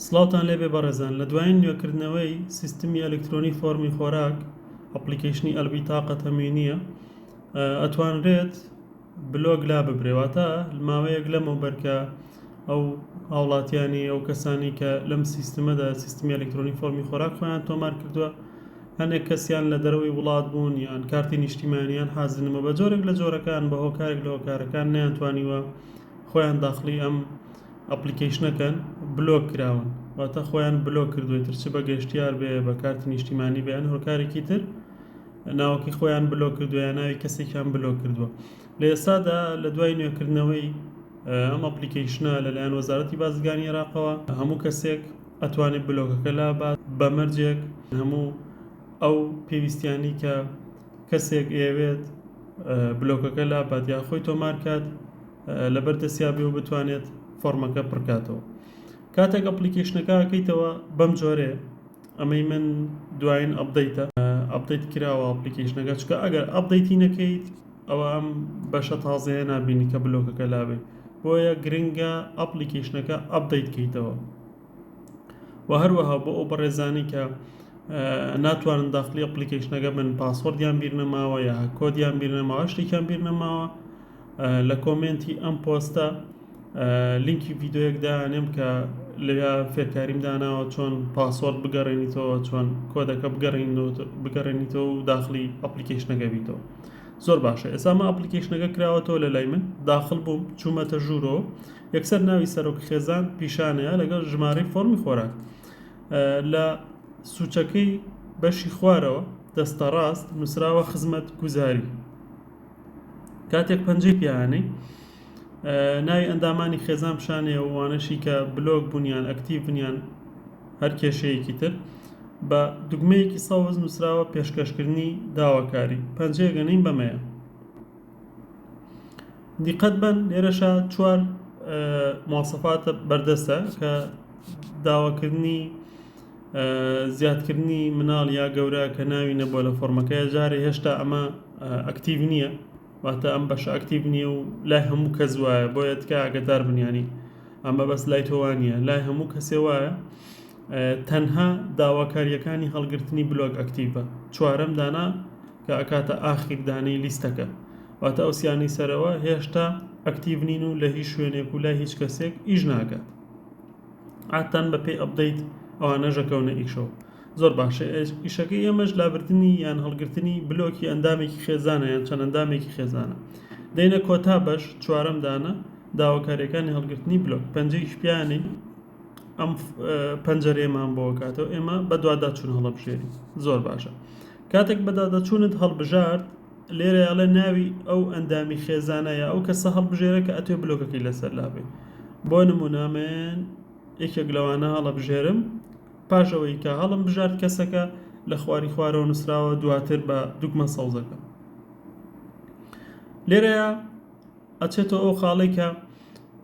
سڵاوتان لێبێ بەڕێزان لە دوایین نوێکردنەوەی سیستمی ئەلکترۆنی فۆڕمی خۆراک ئەپڵیکەیشنی ئەلبیتاقە تەموینیە ئەتوانرێت بلۆک لا ببرێواتە ماوەیەک لەمەوبەر کە ئەو هاوڵاتیانی ئەو کەسانی کە لەم سیستمەدا سیستمی ئەلکترۆنی فۆڕمی خۆراک خۆیان تۆمار کردووە هەندێک کەسیان لە دەرەوەی وڵات بوون یان کارتی نیشتیمانیان حازنمە بە جۆرێک لە جۆرەکان بە هۆکارێک لە هۆکارەکان نیانتوانیوە خۆیان داخلی ئەم ئەپڵیکەیشنەکەن بلۆک کراون واتە خۆیان بلۆک کردوە ئیتر چ بە گەشتیار بێ بە کارتی نیشتیمانی بێ یان هۆکارێکی تر ناوەکەی خۆیان بلۆک کردوە یان ناوی کەسێکیان بلۆک کردوە لە ئێستادا لە دوای نوێکردنەوەی ئەم ئەپڵیکەیشنە لەلایەن وەزارەتی بازرگانی عێراقەوە هەموو کەسێک ئەتوانێت بلۆکەکە لابات بە مەرجێک هەموو ئەو پێویستیانی کە کەسێک ئەیەوێت بلۆکەکە لابات یان خۆی تۆمار کات لەبەر دەستیا بێ و بتوانێت فۆرمەکە پڕکاتەوە کاتێک ئەپلیکیشنەکە کەیتەوە بەم جۆرێ ئەمەی من دوایین ئەبدەیتە ئەبدەیت کراوە ئەپلیکیشنەکە چکە ئەگەر ئەبدەیتی نەکەیت ئەوە ئەم بەشە تازەیە نبینی کە بلۆکەکە لابێت بۆیە گرنگە ئەپلیکیشنەکە ئەبدەیت کەیتەوە و هەروەها بۆ ئەو بەڕێزانی کە ناتوانن داخلی ئەپلیکیشنەکە بن پاسۆردیان بیر نەماوە یا کۆدیان بیر نەماوە شتێکیان بیر نەماوە لە کۆمێنتی ئەم پۆستە لینکی ڤیدۆیەک دانێم کە لەوێ فێرکاریم داناوە چۆن پاسۆرد بگەڕێنیتەوە چۆن کۆدەکە بگەڕێنیتەوە و داخلی ئەپلیکیشنەکە بیتەوە زۆر باشە ئێسامە ئەپلیکیشنەکە کراوەتەوە لە لای من داخل بووم چوومەتە ژوورۆ یەکسەر ناوی سەرۆک خێزان پیشانەیە لەگەڵ ژمارەی فۆرمی خۆراک لە سوچەکەی بەشی خوارەوە دەستە ڕاست نووسراوە خزمەت گوزاری کاتێک پەنجەی پێ ئانێی ناوی ئەندامانی خێزان پیشانێ و وانەشی کە بلۆک بوون یان ئەکتیڤ بوون یان هەر کێشەیەکی تر بە دوگمەیەکی سەوز نووسراوە پێشکەشکردنی داواکاری پەنجەیە گەنین بەمەیە دیقەت بەن لێرەشە چوار مواسەفاتە بەردەستە کە داواکردنی زیادکردنی مناڵ یا گەورە کە ناوی نەبووە لە فۆرمەکە جارێ هێشتا ئەمە ئەکتیڤ نییە واتە ئەم بەش ئەکتیڤ نییە و لای هەموو کەس وایە بۆیە تکە ئەگەدار بنیانی ئەمە بەس لای تۆوانە لای هەموو کەسێ وایە تەنها داواکاریەکانی هەڵگرتنی بلۆک ئەکتیڤە چوارەم دانا کە ئەکاتە ئاخیردانەی لیستەکە واتە ئەو سیانی سەرەوە هێشتا ئەکتیڤ نین و لە هیچ شوێنێک و لای هیچ کەسێک ئیش ناکات عادتان بە پێی ئەپدەیت ئەوانەش ئەکەونە ئیشەوە زۆر باشە ئیشەکەی ئێمەش لابردنی یان هەڵگرتنی بلۆکی ئەندامێکی خێزانە یان چەند ئەندامێکی خێزانە دەینە کۆتا بەش چوارەم دانە داواکاریەکانی هەڵگرتنی بلۆک پەنجەیش پیانی ئەم پەنجەرێمان بۆکاتەوە ئێمە بەدواداچوون هەڵبژێری زۆر باشە کاتێک بەدادەچوونت هەڵبژارد لێرە ئەڵێ ناوی ئەو ئەندامی خێزانە یا ئەو کەسە هەڵبژێرە کە ئەتوێ بلۆکەکەی لەسەر لابێ بۆ نمونە من یەکێک لەوانە هەڵەبژێرم پاش ئەوەی کە هەڵم بژارد کەسەکە لە خواری خوارەوە نووسراوە دواتر بە دوگمە سەوزەکە لێرەیە ئەچێتەوە ئەو خاڵەی کە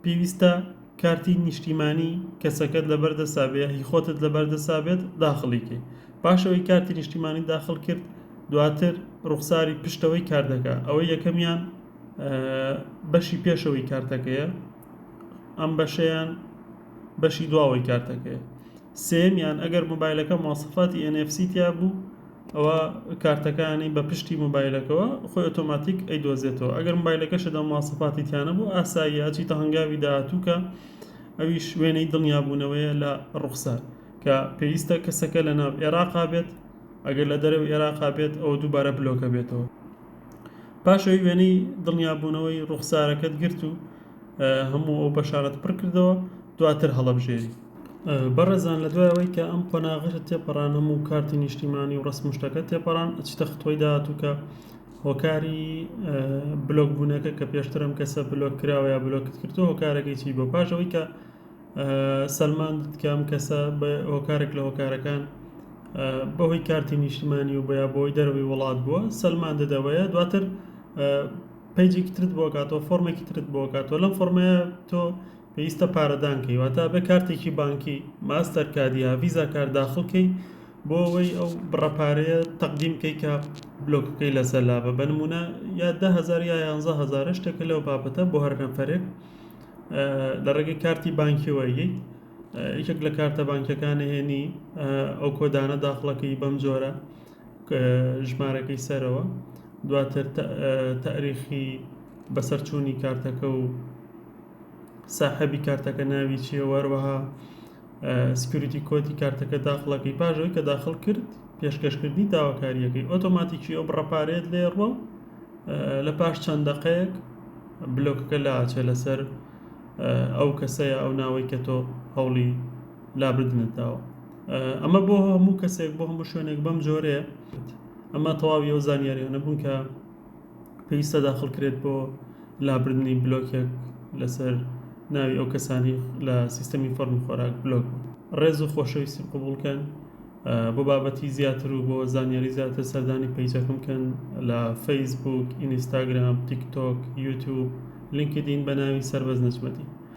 پێویستە کارتی نیشتیمانی کەسەکەت لەبەر دەستا بێت هی خۆتت لەبەر دەستا بێت داخڵی کەی پاش ئەوەی کارتی نیشتیمانی داخڵ کرد دواتر ڕوخساری پشتەوەی کارتەکە ئەوەی یەکەمیان بەشی پێشەوەی کارتەکەیە ئەم بەشیان بەشی دواوەی کارتەکەیە سێیەمیان ئەگەر مۆبایلەکە مواصفاتی ئێن ئێف سی تیا بوو ئەوا کارتەکانی بە پشتی مۆبایلەکەوە خۆی ئۆتۆماتیک ئەیدۆزێتەوە ئەگەر مۆبایلەکەشت ئەو مواصفاتی تیا نەبوو ئاساییە ئەچیتە هەنگاوی داهاتوو کە ئەویش وێنەی دڵنیابوونەوەیە لە ڕوخسار کە پێویستە کەسەکە لە ناو ئێراقا بێت ئەگەر لە دەرەوەی ئێراقا بێت ئەوە دووبارە بلۆکە بێتەوە پاش ئەوی وێنەی دڵنیابوونەوەی ڕوخسارەکەت گرت و هەموو ئەو بەشانت پڕ کردەوە دواتر هەڵەبژێری بەڕێزان لە دوای ئەوەی کە ئەم قۆناغەشە تێپەڕان هەموو کارتی نیشتیمانی و ڕەسم و شتەکە تێپەڕان ئەچیتە ختوەی داهاتوو کە هۆکاری بلۆک بوونەکە کە پێشتر ئەم کەسە بلۆک کراوە یا بلۆکت کردوە هۆکارەکەی چی بۆ پاش ئەوەی کە سەلماندت کە ئەم کەسە بە هۆکارێک لە هۆکارەکان بەهۆی کارتی نیشتیمانی و بۆ یا بۆی دەروی وڵات بووە سەلمان دەدەوەیە دواتر پەیجێکی ترت بۆ کاتەوە فۆرمێکی ترت بۆ کاتەوە لەم فۆرمەیە تۆ پێویستە پارەدان کەی واتە ئەبێ کارتێکی بانکی ماستەر کارد یا ڤیزا کارد داخڵ کەی بۆ ئەوەی ئەو بڕە پارەیە تەقدیم کەی کە بلۆکەکەی لەسەر لابە بە نموونە یا دە هەزار یا یانزە هەزارە شتێکە لەو بابەتە بۆ هەر نەفەرێک لە ڕێگەی کارتی بانکیەوە یەی یەکێک لە کارتە بانکیەکان هێنی ئەو کۆدانە داخڵەکەی بەم جۆرە ژمارەکەی سەرەوە دواتر تاریخی بەسەرچوونی کارتەکە و ساحەبی کارتەکە ناوی چیە و هەروەها سکیوریتی کۆدی کارتەکە داخڵەکەی پاش ئەوی کە داخڵ کرد پێشکەشکردنی داواکاریەکەی ئۆتۆماتیکی ئەو بڕە پارەیەت لێ ڕوە و لە پاش چەند دەقەیەک بلۆکەکە لاچێ لەسەر ئەو کەسەیە ئەو ناوەی کە تۆ هەوڵی لابردنت داوە ئەمە بۆ هەموو کەسێک بۆ هەموو شوێنێک بەم جۆرێ ئەمە تەواوی ئەو زانیاریانە بوون کە پێویستە داخڵکرێت بۆ لابردنی بلۆکێک لەسەر ناوی ئەو کەسانی لە سیستەمی فەرمی خۆراک بلۆک ڕێز و خۆشەویستی قوبولکەن بۆ بابەتی زیاتر و بۆ زانیاری زیاتر سەردانی پیجەکەم کەن لە فەیسبوک ئینیستاگرام تیکتۆک یوتوب لینکدین بە ناوی سەربەز نەجمەدین